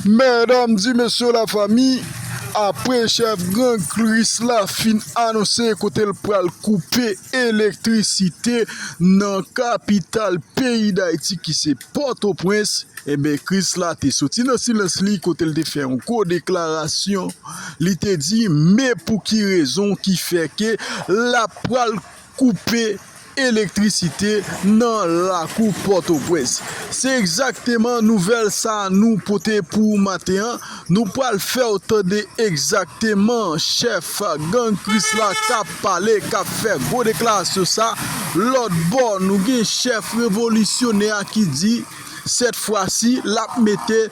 Medam di mesye la fami, apre chèf gang Chris la fin anonse kote l pral koupe elektrisite nan kapital peyi Dayiti ki se Pòtoprens, enben Chris la te soti nan silans li kote l te fè yon gwo deklarasyon, li te di me pou ki rezon ki fè ke l ap pral. koupe elektrisite nan lakou Pòtoprens. Se egzakteman nouvèl sa nou pote pou ou maten an. Nou pral fè w tande egzakteman chèf gang Krisla k ap pale, k ap fè gwo deklarasyon sa. Lòt bò, nou gen chèf revolisyonè a ki di sèt fwa si l ap mete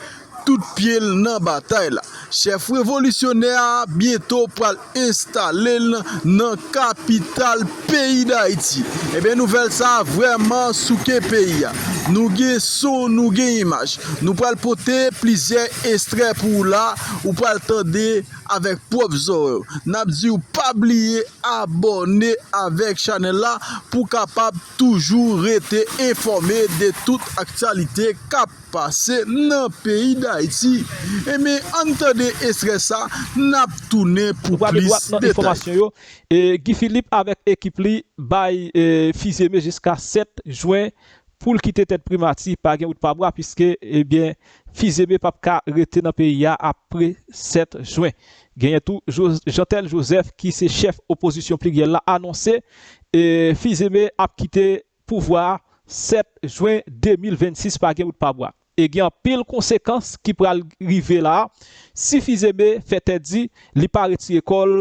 tout pye l nan batay la. Chèf revolisyonè a byento pral enstale l nan kapital peyi Dayiti. Ebyen nouvèl sa a vrèman souke peyi a. Nou gen son, nou gen imaj. Nou pral pote plizyè estrè pou ou la, ou pral tande avèk pwòp zòrèy ou. N ap di w pa bliye abòne avèk chanèl la pou w kapab toujou rete enfòme de tout aktyalite k ap. pase nan peyi dayiti enben ann tande estrè sa nap tounen pou plis detay. Guy Philippe avèk ekip li bay Fils-Aimé jiska 7 jwen poul kite tèt primati pa gen wout pa bwa puiske ebyen Fils-Aimé pap ka rete nan peyi a apre 7 jwen. Genyen tou Jeantel Joseph ki se chèf opozisyon pliryèl la anonse Fils-Aimé ap kite pouvwa a 7 jwen 2026 pa gen wout pa bwa e gen anpil konsekans ki pral rive la a si Fils-Aimé fè tèt di li pa retire kò l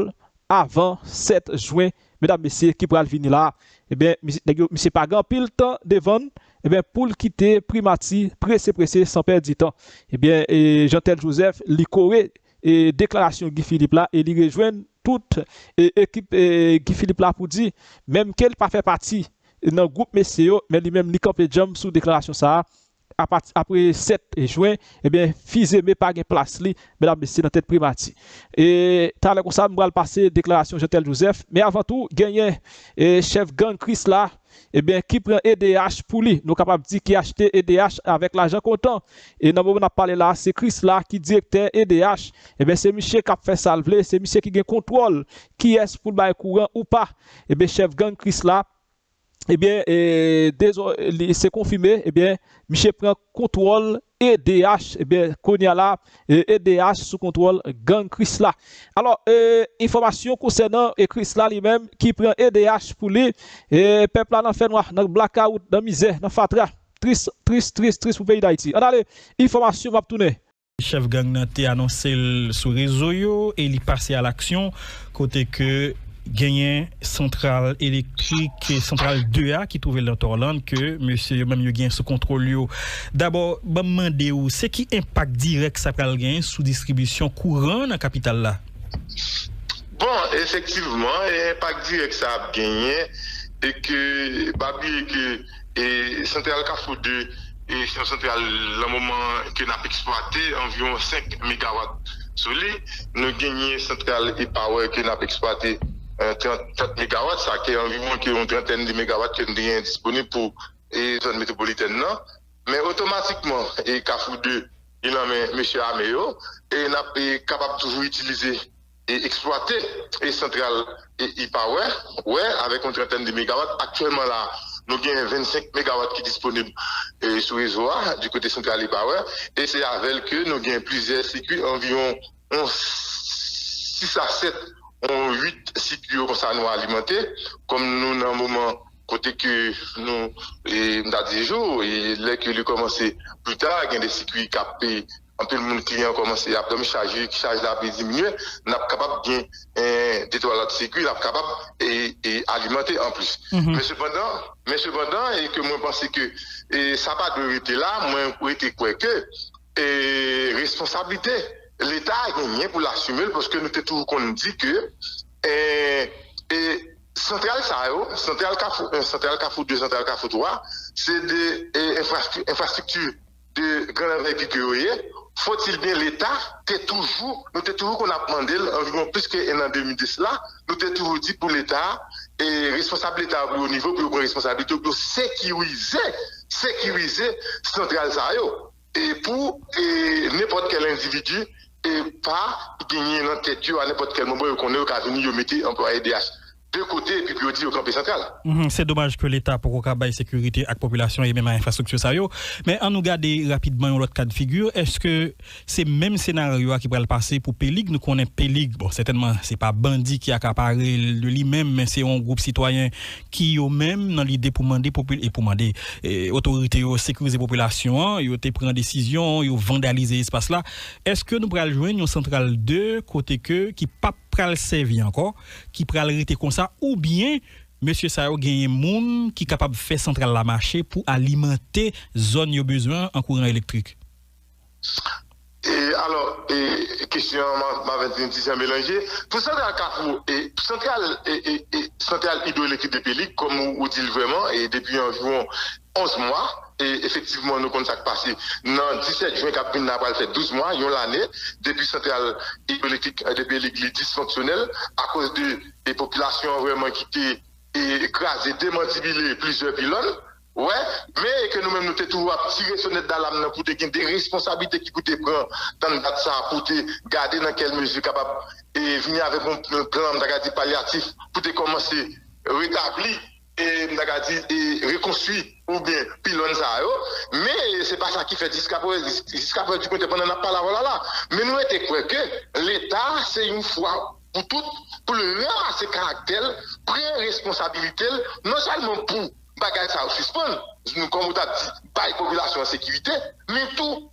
avan 7 jwen medam mesye ki pral vini la a ebyen nèg yo misye pa gen anpil tan devan l ebyen pou l kite primati prese prese san pèdi tan ebyen Jeantel Joseph li kore deklarasyon Guy Philippe la e li rejwenn tout ekip Guy Philippe la pou di, menm ke li pa fè pati nan gwoup mesye yo, men li menm li kanpe djanm sou deklarasyon sa a, apati apre 7 jwen, ebyen Fils-Aimé pa gen plas li, medam mesye nan tèt primati. E talè konsa m pral pase deklarasyon Jeantel Joseph, men avan tou genyen chèf gang Krisla Ebyen ki pran edh pou li nou kapab di ki achte edh avèk lajan kontan e nan moman nap pale la se Krisla ki direktè edh ebyen se miche kap fè sal vle se miche ki gen kontwòl kiyès poul bay kouran ou pa ebyen chèf gang Krisla ebyen se konfime ebyen miche pran kontwòl EDH ebyen kounya la EDH sou kontwòl gang krisla alò enfòmasyon konsènan krisla li menm ki pran edh pou li pèp la nan fènwa nan blakawout nan mizè nan fatra tris tris tris tris pou peyi dayiti ann ale enfòmasyon map tounen. Chèf gang nan te anonse l sou rezo yo e li pase a laksyon. kote ke genyen santral elektrik, santral 2 a ki twouve l nan Torland ke mesye yo menm yo genyen sou kontwòl yo. Dabò, ban m mande ou, se ki enpak dirèk sa pral genyen sou distribisyon kouran nan kapital la? Bon, efektivman, enpak dirèk sa ap genyen e ke pa bliye ke. Santral Kafou 2 se yon santral nan moman ke nap eksplwate anviwon 5 megawat sou li. Nou genyen santral Ipawer ke nap eksplwate 30 megawat sa ke anviwon ke yon trantèn de megawat ke nou te genyen disponib pou zòn metwopolitèn nan. Men otomatikman Kafou 2 li nan men mesye ame yo e nap kapab toujou itilize. e eksplwate e santral e e-power wè avèk yon trantèn de megawat aktyèlman la nou gen 25 megawat ki disponib sou rezo a di kote santral e-power e se avèl ke nou gen plizyè sikwi anviwon yon 6 a 7 yon 8 sikwi yo konsa nou alimante kòm nou nan moman kote ke nou e m ta di jou e lè ke li kòmanse pli ta gen de sikwi kap Anpil moun kliyan kòmanse ap dòmi chak jou chaj la pi diminye nap kapab gen de twa lòt sikui nap kapab alimante anplis men sepandan men sepandan e ke mwen panse ke sa pa dwe rete la mwen rete kwè ke responsablite leta genyen pou l asime l paske nou te toujou konn di ke e santral sa yo santral kafou 1 santral kafou 2 santral kafou 3 se de enfrastrikti de gran anvèti ke yo ye, fòtil byen leta te toujou, nou te toujou konn ap mande l anviwon plis ke 1 an 2000 de sla, nou te toujou di pou leta e responsab leta yo pi wo nivo pou yo pran responsabilite yo pou yo sekirize, sekirize santral sa yo e pou e nenpòt kèl endividi e pa genyen nan tèt yo a nenpòt kèl moman yo konnen yo ka vini yo mete anplwaye DH. 2 kote epi pou yo di yo kanpe santral. Se domaj ke leta poko ka bay sekirite ak popilasyon e menm a enfrastrikti sa yo. Men an nou gade rapidman yon lòt kad figi, eske se menm senaryo a ki pral pase pou Pelig? Nou konnen Pelig, bon sètènman se pa bandi ki akapare l de li menm, men se yon gwoup sitwayen ki yo menm nan lide pou mande popi, e pou mande otorite yo sekirize popilasyon an, yo te pran desizyon, yo vandalize espas la. Eske nou pral jwenn yon santral 2 kote ke ki pap pral sèvi ankò? ki pral rete konsa oubyen mesye sa yo genyen moun ki kapab fè santral la mache pou alimante zòn yo bezwen an kouran elektrik? Alò, kesyon an ma vin ti jan melanje. Pou santral Kafou, santral idwoelektrik Depeli, kòm ou di l vrèman, depi anviwon 11 mwa, e efektivman nou konn sa k pase, nan 17 jen k ap vin la pral fè 12 mwa, yon lane, depi santral idwoelektrik Debrelik li disfonksyonèl akoz de e popilasyon an vrèman ki te e kraze, demantibile plizyè pilòn, wè, men e ke nou menm nou te toujou ap tire sonèt dalam nan pou te gen de responsablite ki pou te pran tann dat sa a pou te gade nan kèl mezi kapab e vini avèk yon plan m ta ka di palyatif pou te kòmanse retabli m ta ka di, rekonstwi ou byen pilòn sa yo, men se pa sa ki fèt jiskaprezan, dikwete pandan n ap pale avè w la la. Men nou rete kwè ke Leta se yon fwa pou tout pou l ranmase karaktè l, pran responsabilite l, non sèlman pou bagay sa yo sispann, kòm ou t ap di, bay popilasyon an sekirite, men tou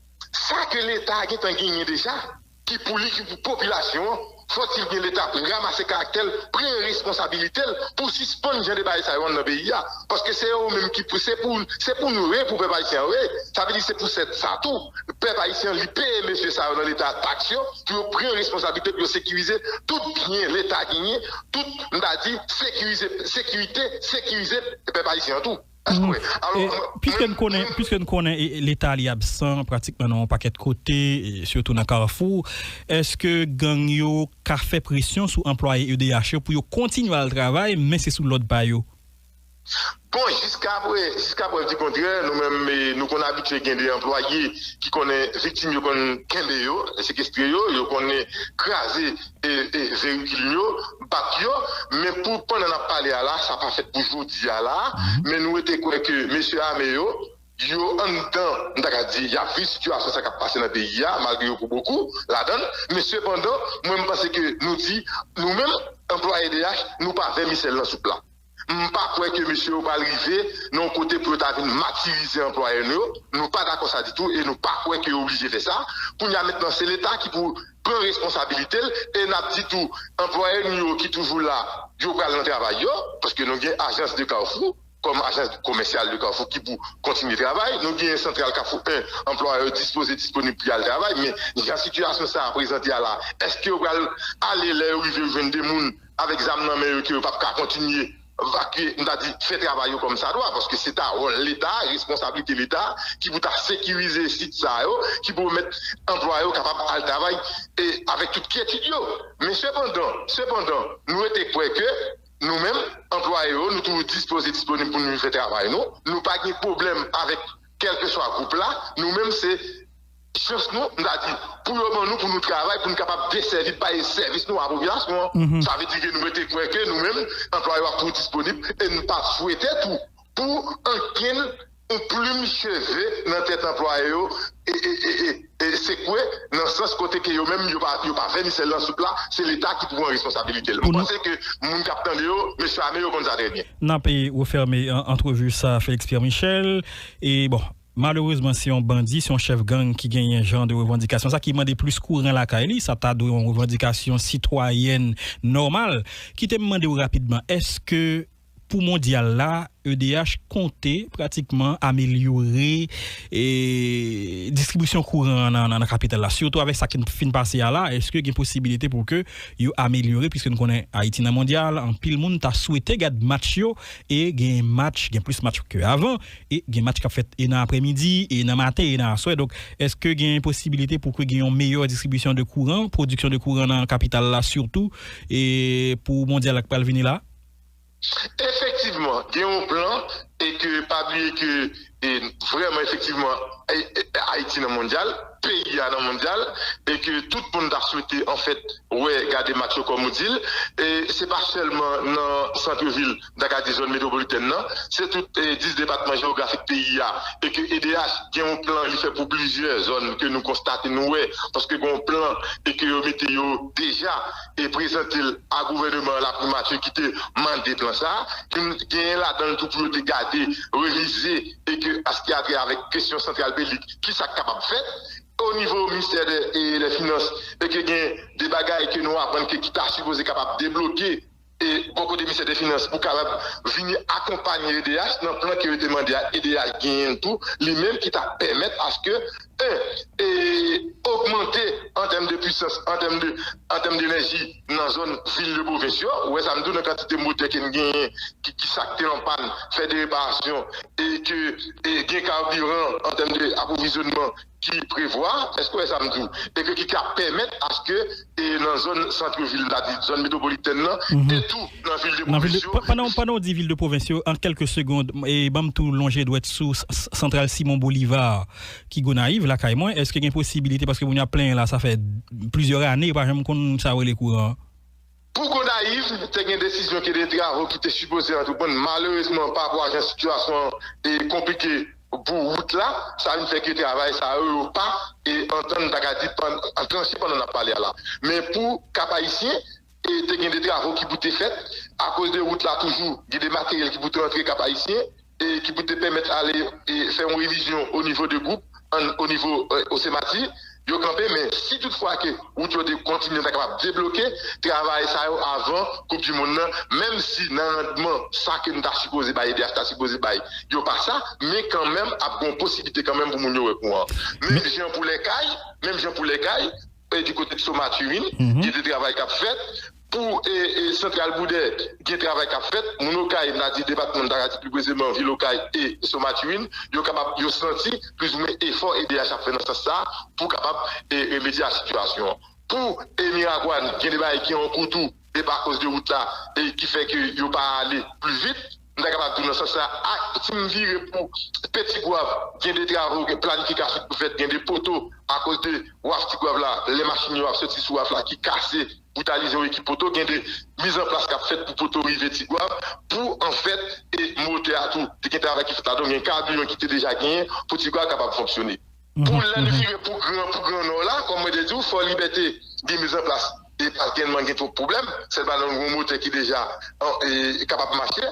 sa ke Leta gentan genyen deja. ki pou li, ki pou popilasyon an, fò ti byen leta ramase karaktè l, pran responsabilite l pou sispann jan de bagay sa yo anndan peyi a. Paske se yo menm ki pou, se pou, se pou nou re pou pèp ayisyen an re. Sa vle di se pou sèt sa tou, pèp ayisyen an li peye mesye sa yo nan leta a taks yo pou yo pran responsabilite pou yo sekirize tout byen leta genyen, tout, m ta di, sekirize, sekirite, sekirize pèp ayisyen an tou. Mwen kwè. Piske n konnen, piske n konnen leta li absan pratikman nan yon pakèt kote, sitou nan Kafou, èske gang yo ka fè presyon sou anplwaye edh yo pou yo kontinye al travay men se sou lòd pa yo? Bon, jiska prè, jiska prèv di kontrè, nou menm nou konn abitye gen de anplwaye ki konnen viktim yo konn kenbe yo, sekestre yo, yo konn kraze Verikil m yo, bat yo, men pou pandan n ap pale a la, sa pa fèt pou jodi a la, men nou rete kwè ke mesye ame yo, yo anndan, m ta ka di, y ap viv sitiyasyon sa k ap pase nan peyi a, malgre yo pou bokou ladan l, men sepandan, mwen m panse ke nou di, nou menm, anplwaye DH, nou pa vèmisèl nan soup la. M pa kwè ke mesye yo pral rive nan yon kote pou yo ta vin matirize anplwayè nou yo. Nou pa dakò sa ditou e nou pa kwè ke yo oblije fè sa. Kounye a mentnan se leta ki pou pran responsabilite l e n ap di tou anplwayè nou yo ki toujou la yo pral nan travay yo paske nou gen ajans de Kafou kòm ajans komèsyal de Kafou ki pou kontinye travay. Nou gen santral Kafou 1 anplwayè yo dispoze disponib pou y al travay men jan sitiyasyon sa a prezante a la èske yo pral ale lè yo rive yo jwenn 2 moun avèk zam nan men yo ke yo pap ka kontinye vakye, m ta di fè travay yo kòm sa dwa, paske se ta wòl leta, responsablite leta ki pou ta sekirize sit sa yo, ki pou pèmèt anplwaye yo kapab al travay e avèk tout kyetid yo. Men sepandan, sepandan, nou rete kwè ke nou menm, anplwaye yo, nou toujou dispoze, disponib pou nou vin fè travay nou, nou pa gen pwoblèm avèk kèlkeswa gwoup la, nou menm se. Jès nou, m ta di, pou yo ban nou pou nou travay, pou nou kapab desèvi, bay sèvis nou a popilasyon an. Sa vle di ke nou rete kwè ke nou menm, anplwaye yo ap toujou disponib e nou pa swete tou pou ankenn yon plim cheve nan tèt anplwaye yo sekwe nan sans kote ke yo menm yo pa vèmisèl nan soup la, se Leta ki pou pran responsabilite l. M panse ke moun k ap tande yo, mesye ame yo konn sa trè byen. N ape refèmen antrevi sa a Félix Pierre Michel e bon. Malerezman se yon bandi, se yon chèf gang ki genyen jan de revandikasyon sa ki mande plis kouran lakay li, sa ta dwe yon revandikasyon sitwayèn nòmal. Kite m mande w rapidman, èske pou mondyal la edh konte pratikman amelyore distribisyon kouran an nan kapital la sitou avèk sa ki fin pase a la, èske gen posibilite pou ke yo amelyore piske nou konnen Ayiti nan mondyal anpil moun ta swete gad match yo e gen match gen plis match ke avan E gen match kap fèt e nan aprè midi e nan maten e nan aswè donk eske gen posibilite pou ke gen yon meyè distribisyon de kouran, pwodiksyon de kouran nan kapital la sitou e pou mondyal la k pral vini la? Efektivman gen yon plan e ke pa bliye ke e vrèman efektivman Ayiti nan mondyal, peyi a nan mondyal e ke tout moun ta swete anfèt wè gade match yo kòm ou di l e se pa sèlman nan santrevil n ta ka di zòn metwopolitèn nan, se tout 10 depatman jewografik peyi a e ke edh gen yon plan li fè pou plizyè zòn ke nou konstate, nou wè, paske gen yon plan e ke yo mete yo deja e prezante l a gouvèneman an, laprimati ki te mande plan sa a, ki genyen ladan l tou pou yo te gade, revize e ke a s ki atre avèk kesyon santral Pelig, ki sa k kapab fèt o nivo Ministè dè Finans e ke gen de bagay ke nou aprann ke ki ta sipoze kapab debloke. E bò kote Ministè de Finans pou kapab vini akonpanye edh nan plan ke yo te mande a edh genyen l tou li menm ki ta pèmèt aske 1 e ogmante an tèm de pwisans an tèm de an tèm denèji nan zòn vil de pwovens yo ou wè sa m di w nan kantite motè ke n genyen ki ki sa k te an pàn fè de reparasyon e ke e gen kabiran an tèm de apwovizyonman ki prevwa, èske w wè sa m di w, e ke ki ka pèmèt aske e nan zòn centre ville la, di zòn metropolitèn nan, e tou nan ville de pwovens yo. Pandan w di ville de pwovens yo, an kèlke segond, e ban m tou lonje dwèt sou santral Simon Bolivar ki Gonayiv, lakay mwen, èske gen posibilite, paske moun yo ap plenyen la, sa fè plizyè ane yo pa janm konn sa yo rele kouran an? Pou Gonayiv, te gen desizyon ke de travo ki te sipoze antreprann malerezman pa pou ajan sitiyasyon an e konplike pou wout la, sa vin fè ke travay sa yo yo pa e antann ta ka di pan anklanche pandan nap pale a la. Men pou Kap Ayisyen, e te gen de travo ki pou te fèt akoz de wout la toujou gen de materyèl ki pou te antre Kap Ayisyen ki pou te pèmèt ale fè yon revizyon o nivo de gwoup an o nivo Osemati yo kanpe men si tout fwa ke wout yo te kontinye ta kapab debloke travay sa yo avan koup di monn nan menm si nan randman sa ke nou ta sipoze bay edh ta sipoze bay yo pa sa men kanmenm ap gen yon posiblite kanmenm pou moun yo wè kouran menm jan pou lèkay menm jan pou lèkay di kote Kso Maturin gen de travay kap fèt. Pou Santral Boudè, gen travay k ap fèt. Moun Okay, m ta di depatman, m ta ka di pli prezeman vil Okay e Sen Matiwin, yo kapab, yo santi plizoumwen efò edh ap fè nan sans sa a pou kapab remedye a sitiyasyon an. Pou Miragwàn, gen de bagay ki an kou tou, epi akoz de wout la ki fè ke yo pa ale pli vit. M ta kapab di w nan sans sa a, si m vire pou Peti Gwav, gen de travo, gen planifikasyon ki pou fèt, gen de poto akoz de waf Ti Gwav la, lè machin yo ap soti sou waf la ki kase, boutalize yon ekip poto, gen de mizanplas k ap fèt pou poto rive Ti Gwav, pou anfèt e motè a tou te gen travay ki fèt ladan l, gen kabiyon ki te deja genyen pou Ti Gwav kapab fonksyone. Pou lè li rive pou gran pou gran nò la, kòm mwen te di w, Fò Libète gen miz an plas e pa gen man gen twop pwoblèm, sèlman nan gwo motè ki deja kapab mache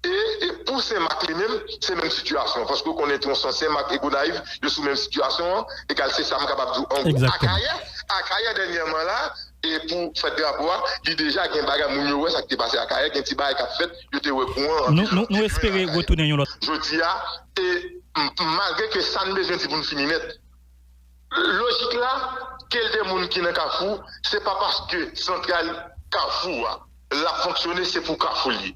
e pou Sen Mak li menm se menm sitiyasyon an paske ou konnen twonson Sen Mak e Gonayiv yo sou menm sitiyasyon an egal se sa m kapab di w an gwo. Akayè, Akayè dènyèman la e pou fèt drapo a li deja gen bagay moun yo wè sa ki te pase Akayè gen ti bagay k ap fèt yo te wè kouran anpil lòt te jwenn Akayè jodi a. E malgre ke sa n bezwen di pou n fini nèt, lojik la, kel de moun ki nan Kafou, se pa paske santral Kafou a l ap fonksyone se pou Kafou l ye.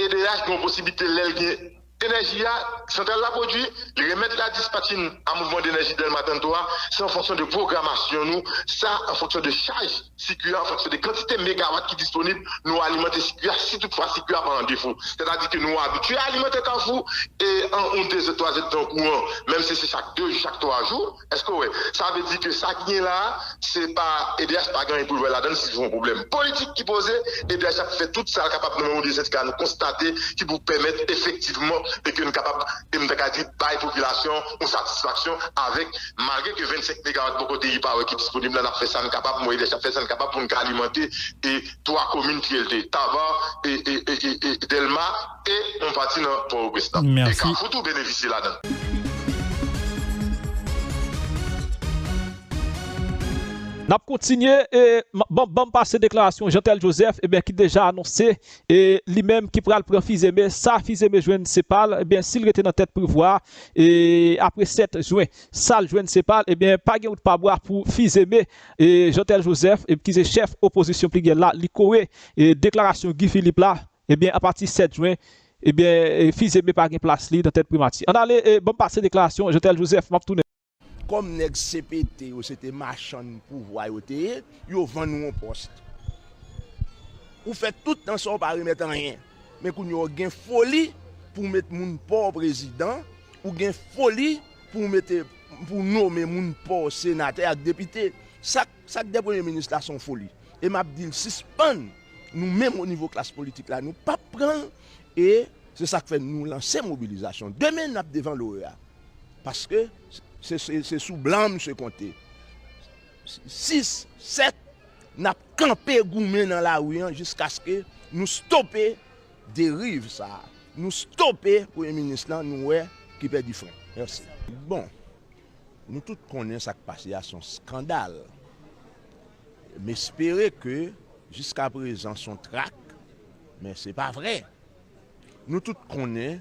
Edeyach gen yon posiblite lè l gen enèji a, santral la pwodui, li remèt la dispatchin a Mouvman Denèji Dèlma Tann To a, se an fonksyon de pwogramasyon nou, sa an fonksyon de chaj. Sikui a fonksyone. Kantite megawat ki disponib, nou alimante sikui a si tout fwa sikui a pa an defo. Sètadi ke nou abitye alimante Kafou e an oun dezèt twazèt tan kouran, menm si se chak de jou, chak twa jou, èske w wè? Sa vle di ke sa ki gen la a, se pa, edh pa gen anyen pou l wè ladan l si yon pwoblèm politik ki poze, edh ap fè tout sa l kapab nan menm oubyen sendika a nou konstate ki pou pèmèt efektivman e ke n kapab, e m ta ka di, bay popilasyon yon satisfaksyon avèk. Malgre ke 25 megawat poko te repare ki disponib la, n ap fè sa n kapab, mwen Edèch ap fè sa n kapab pou n ka alimante e 3 komin ki rele Tabar e e Dèlma e yon pati nan Pòtoprens lan. E Kafou tou benefisye ladan l. N ap kontinye e ban m pase deklarasyon Jean Tel Joseph e ben ki deja anonse E li menm ki pral pran Fizeme, sa Fizeme jwenn se pa l, ebyen si l rete nan tèt Privwa a, e apre 7 jwen sa l jwenn se pa l, ebyen pa gen wout pa bwa pou Fizeme. E Jantèl Jozèf ki se chèf opozisyon pligyèl la, li kore deklarasyon Gi Filip la, ebyen apati 7 jwen, ebyen Fizeme pa gen plas li nan tèt Primati. An ale, ban m pase deklarasyon Jantèl Jozèf, m ap tounen. Kòm nèg CPT yo se te machann pouvwa yo te ye, yo vann ou yon pòs. Ou fè tout tan sa ou pa remèt anyen. Men kounye a ou gen foli pou w met moun pa w prezidan, ou gen foli pou w mete, pou w nome moun pa w senatè ak depite. Sa k, sa k dè premye minis la se yon foli. E m ap di l sispann, nou menm onivo klas politik la nou p ap pran l e se sa k fè nou lanse mobilizasyon. Demen n ap devan l'OEA. Paske se sou blan misye konte. 6, 7, N ap kanpe goumen nan lari an jiskaske nou stope deriv sa a. Nou stope premye minis lan nou wè ki pèdi fren. Mèsi. Bon, nou tout konnen sa k pase a se yon skandal. M espere ke jiskaprezan se yon trak, men se pa vre. Nou tout konnen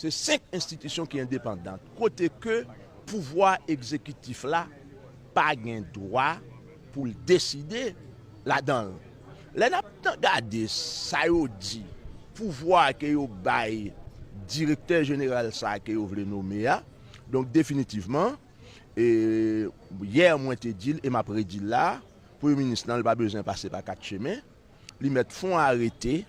Se 5 enstitisyon ki endepandan, kote ke pouvwa egzekitif la pa gen dwa pou l deside ladan l. Lè n ap tan gade sa yo di, pouvwa ke yo bay direktè jeneral sa ke yo vle nome a, donk definitivman, e yè mwen te di l e m ap redi l la, premye minis nan l pa bezwen pase pa 4 chemen, Li mèt fon arete,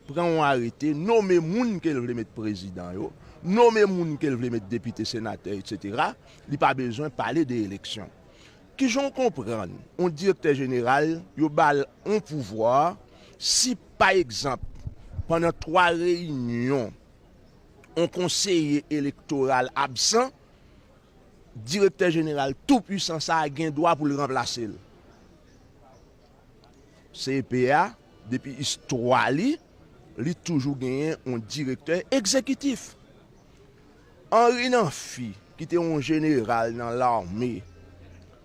pran on arete, nome moun ke l vle met prezidan yo, nome moun ke l vle met depite, senatè, etc. Li pa bezwen pale de eleksyon. Ki jan w konprann on direktè jeneral yo ba l on pouvwa si pa egzanp pandan 3 reyinyon on konseye elektoral absan, direktè jeneral tou pwisan sa a gen dwa pou l ranplase l? CEP a, depi istwa li, li toujou genyen yon direktè egzekitif. Henri Namphy, ki te yon jeneral nan lame,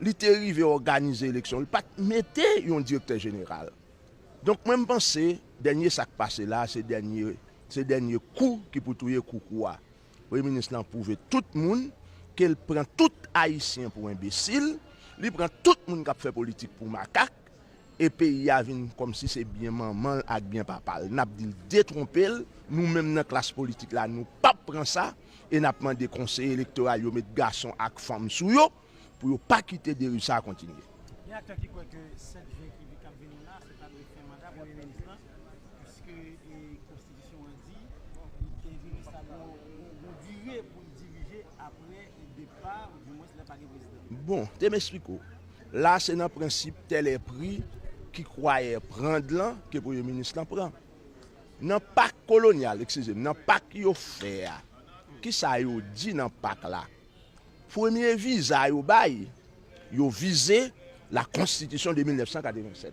li te rive òganize eleksyon, li pa t mete yon direktè jeneral. Donk mwen m panse dènye sa k pase la a se dènye kou ki pou touye koukou a. Premye minis lan pwouve tout moun ke l pran tout Ayisyen pou enbesil, li pran tout moun k ap fè politik pou makak, e peyi a vin kòmsi se byen manman l ak byen papa l. N ap di l detwonpe l, nou menm nan klas politik la nou p ap pran sa e n ap mande konseye elektoral yo met gason ak fanm sou yo. pou yo pa kite deriv sa a kontinye. Gen aktè ki kwè ke 7 jen ki vi kap vini la se ta dwe fen manda premye minis lan piske konstitisyon an di li ke minis la gen yon dire pou l dirije apre depa ou di mwens lè pa gen prezidan. Bon, te m esplike w, la se nan prensip tè lè pri ki kwayè prand lan ke premye minis lan pran. Nan pak kolonyal, ekskize m, nan pak yo fè a, kisa yo di nan pak la? Premye viza yo bay yo vize la konstitisyon de 1987.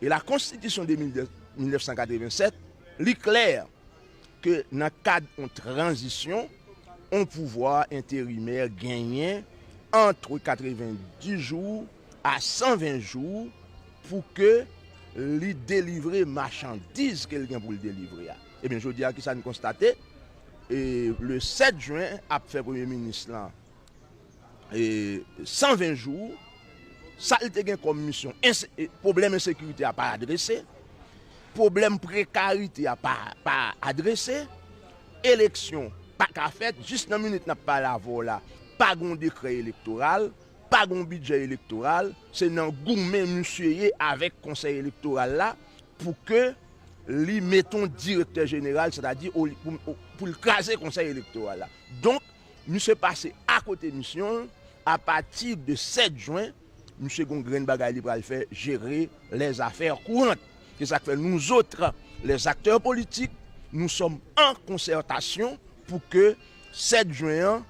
E la konstitisyon de 1987, li klè ke nan kad on tranzisyon, on pouvwa enterimè genyen antre 90 jou a 120 jou pou ke li delivre machandiz ke l gen pou l delivre a. Ebyen jodi a kisa n konstate? e le 7 jwen ap fè premye minis lan 120 jou sa li te gen kòm misyon pwoblèm ensekirite a pa adrese pwoblèm prekarite a pa adrese eleksyon pa ka fèt jis nan minit nap pale avè w la pa gen yon dekrè elektoral pa gen yon bidjè elektoral se nan goumen misye ye avèk konsèy elektoral la. Pou ke li met yon direktè jeneral, sètadi pou l kraze konsèy elektoral la. Donk, misye pase akote misyon l, apati de 7 jwen, misye gen yon grenn bagay li pral fè, jere lè zafè kourant. Se sa k fè nou zotre lè zaktè politik, nou sòm an konsètasyon pou ke 7 jwen an,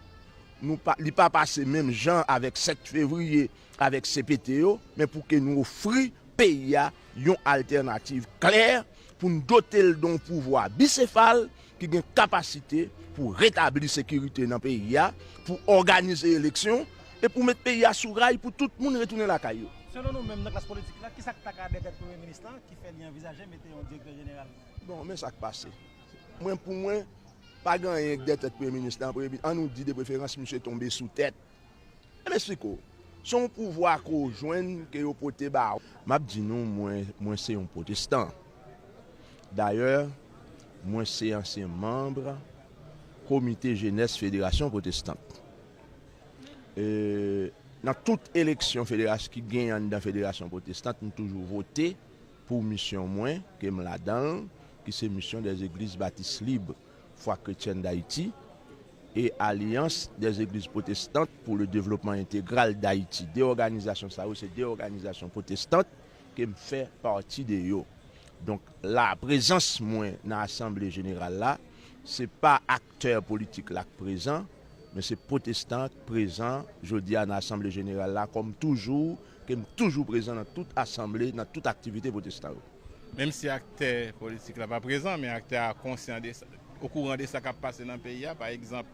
li pa pase menm jan avèk 7 fevriye, avèk CPT yo, men pou ke nou ofri peyi a yon altènativ klè, pou n dote l don pouvwa bisefal ki gen kapasite pou retabli sekirite nan peyi a, pou òganize eleksyon, e pou met peyi a sou ray pou tout moun retounen lakay yo. Selon nou menm nan klas politik la, kisa k ta ka dètèt Premye Minis lan ki fè li anvizaje mete yon Direktè Jeneral? Bon, men sa k pase. Mwen, pou mwen, pa gen anyen k dètèt Premye Minis lan. An nou di, depreferans, misye tonbe sou tèt. Em esplik ou. Se yon pouvwa ke ou jwenn, ke yo pote ba ou. M ap di nou, mwen, mwen se yon pwotestan. Dayè, mwen se ansyen manb komite jenès federasyon pwotestant. E, nan tout eleksyon federas, ki genyen anndan federasyon pwotestant, m toujou vote pou misyon mwen, ke m ladan l, ki se misyon dè zegliz batis lib. Foi Chrétienne d'Haïti e Alliance des Eglises Protestantes pour le Développement Intégral d'Haïti. De òganizasyon sa yo se de òganizasyon pwotestant ke m fè pati de yo. Donk la, prezans mwen nan asanble jeneral la, se pa aktè politik la k prezan, men se pwotestan k prezan jodi a nan asanble jeneral la kòm toujou ke m toujou prezan nan tout asanble, nan tout aktivite pwotestan yo. Menm si aktè politik la pa prezan, men aktè a konsyan de sa, okouran de sa k ap pase nan peyi a. Pa egzanp,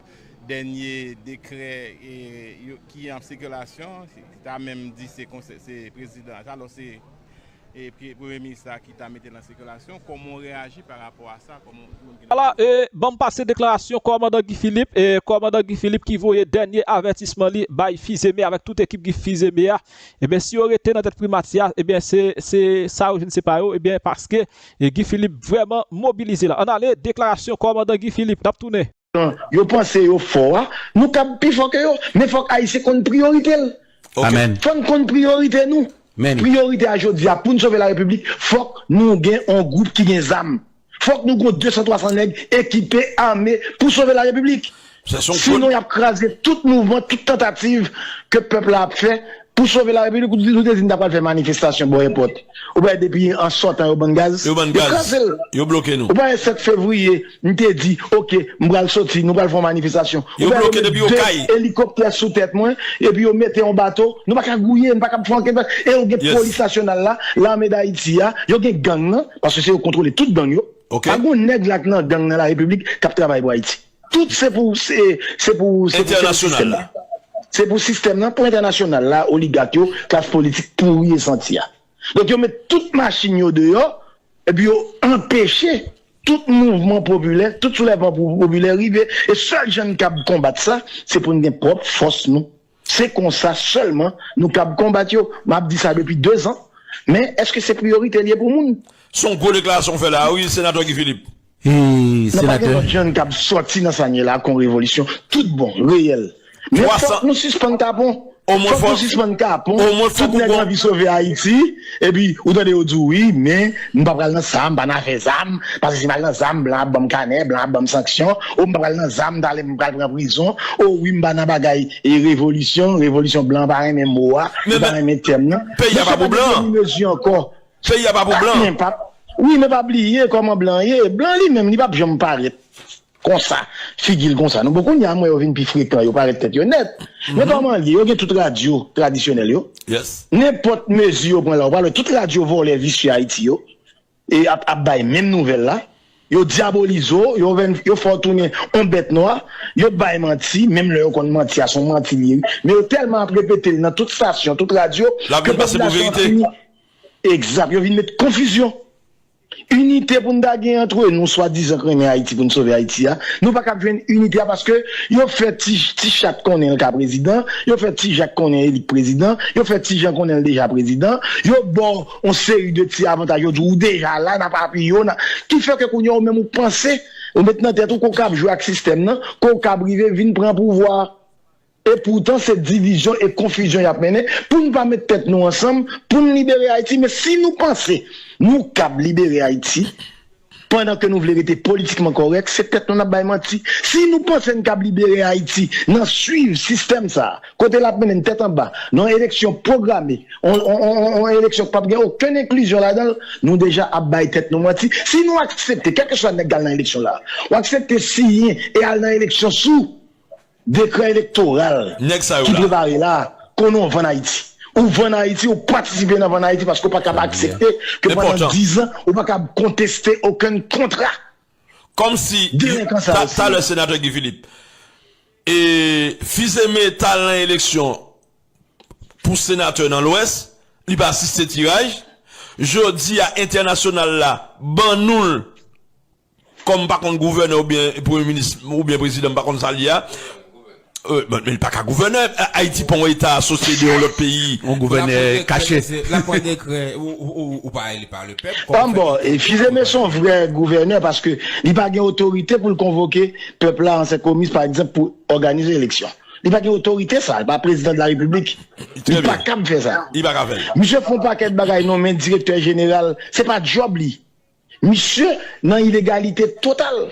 dènye dekrè ki an sikilasyon, ki ta menm di se konsèy, se prezidan, alò se premye minis la ki ta mete l an sikilasyon. Kòman w reyaji pa rapò a sa? Ala e, ban m pase deklarasyon kòmandan Guy Philippe, kòmandan Guy Philippe ki voye dènye avètisman li bay Fizeme avèk tout ekip Guy Fizeme a. Ebyen si yo rete nan tèt primati a ebyen se se sa yo jwenn se pa yo ebyen paske Guy Philippe vrèman mobilize la. Ann ale deklarasyon kòmandan Guy Philippe n ap tounen. Jan yo panse yo fò a, nou kab pi fò ke yo, men fòk Ayisyen konn priyorite l. Amen. Fò n konn priyorite nou. Priyorite a jodi a pou n sove la Repiblik fòk nou gen yon gwoup ki gen zam. Fok nou gon 200 300 neg ekipe ame pou sove la repiblik. Si non yap kraze tout mouvman tout tantativ ke pep la ap fe pou sove la repiblik ou te di nou ta pral fe manifestasyon bo èpot ou pale depi an sotan yo bann gaz yo kraze l ou pale 7 fevriye nou te di ok m pral soti nou pral fon manifestasyon ou pale yo met 2 elikoptè sou tet mwen epi yo mete yon bato nou pa ka gouye nou pa ka fon anket e yo gen polis nasyonal la lame dayiti a yo gen gang nan. paske se yo kontrole tout gang yo pa gon nèg la k nan gang nan la repiblik kap travay pou ayiti tout se pou se se pou se pou se sistèm la se pou sistèm nan pou entènasyonal la oligak yo klas politik pouri e santi a donk yo met tout machin yo deyò epi yo anpeche tout mouvman popilè tout soulèvman popilè rive e sèl jan n kab konbat sa se pou n gen pwòp fòs nou. Se konsa sèlman nou kab konbat yo. M ap di sa depi 2 zan, men èske se priyorite li ye pou moun? Se yon gwo deklarasyon w fè la a wi, Senatè Guy Philippe. Nan pa gen lòt jann k ap sòti nan sa n ye la a kon revolisyon tout bon, reyèl. Men fòk nou sispann kapon. Fòk nou sispann kapon. Tout nèg anvi sove Ayiti. Epi ou tande yo di w wi men m pa pral nan sa, m pa nan afè zam, paske si m al nan zam blan ap ban m kanè, blan ap ban m sanksyon, o m pa pral nan zam talè m pral pran prizon, o wi m pa nan bagay revolisyon, revolisyon blan pa renmen mo a, li pa renmen tèm nan. Peyi a pa pou blan. Peyi a pa pou blan. Wi men pa bliye kòman blan ye, blan li menm li pap janm parèt. Konsa, figi l konsa nou bon kounya m wè yo vin pi frekan yo parèt tèt yo nèt men kòman l ye yo gen tout radyo tradisyonèl yo nenpòt mezi yo pran la ou pral wè tout radyo vòlè visye Ayiti yo ap bay menm nouvèl la yo dyabolize w yo vin yo fè w tounen on bèt nwa yo bay manti menm lè yo konn manti a s on manti l ye wi men yo tèlman ap repete l nan tout stasyon tout radyo ke popilasyon an fini egzat yo vin met konfizyon. Inite pou n ta gen antre nou swadizan k renmen Ayiti pou n sove Ayiti a, nou pa k ap jwenn inite a paske yo fè ti chat konnen l ka prezidan, yo fè ti jak konnen Elik prezidan, yo fè ti jan konnen l deja prezidan, yo ba w yon seri de ti avantaj, yo di w ou deja la, n ap apiye w, ki fè ke kounye a ou menm ou panse, ou met nan tèt ou ke w kab jwe ak sistèm nan, ke w kab rive vin pran pouvwa a. E poutan se divizyon e konfizyon yap mennen pou nou pa met tèt nou ansanm pou nou libere Ayiti men si nou panse nou kab libere Ayiti pandan ke nou vle rete politikman kòrèk se tèt nou nap bay manti si nou panse nou kab libere Ayiti nan swiv sistèm sa a kote lap mennen nou tèt anba nan yon eleksyon pwograme yon eleksyon ki pap gen okenn enklizyon ladan l nou deja ap bay tèt nou manti si nou aksepte kèlkeswa nèg kal nan eleksyon la ou aksepte siyen e al nan eleksyon sou. Dekrè elektoral ki prepare la a konnen w vann Ayiti. Ou vann Ayiti, ou patisipe nan vann Ayiti paske ou pa kab aksepte ke pandan 10 an ou pa kab konteste okenn kontra. Kòmsi talè senatè Guy Philippe e Fils-Aimé t al nan eleksyon pou senatè nan lwès, li pa asiste tiraj, jodi a entènasyonal la ban nou l. Kòm m pa konn gouvènè oubyen premye minis oubyen prezidan m pa konn sa l ye a bon men li pa ka gouvènè ayiti pa yon eta asosye de yon lòt peyi yon gouvènè kache lap pran dekrè ou pa eli pa le pèp kòman fè li pou fizeme pa son vrè gouvènè paske li pa gen otorite pou l konvoke pèp la an senkomis pa egzanp pou òganize eleksyon li pa gen otorite sa li pa prezidan de la repiblik li pa kab fè sa misye fon pakèt bagay nonmen direktè jeneral se pa djòb li Misye nan ilegalite total.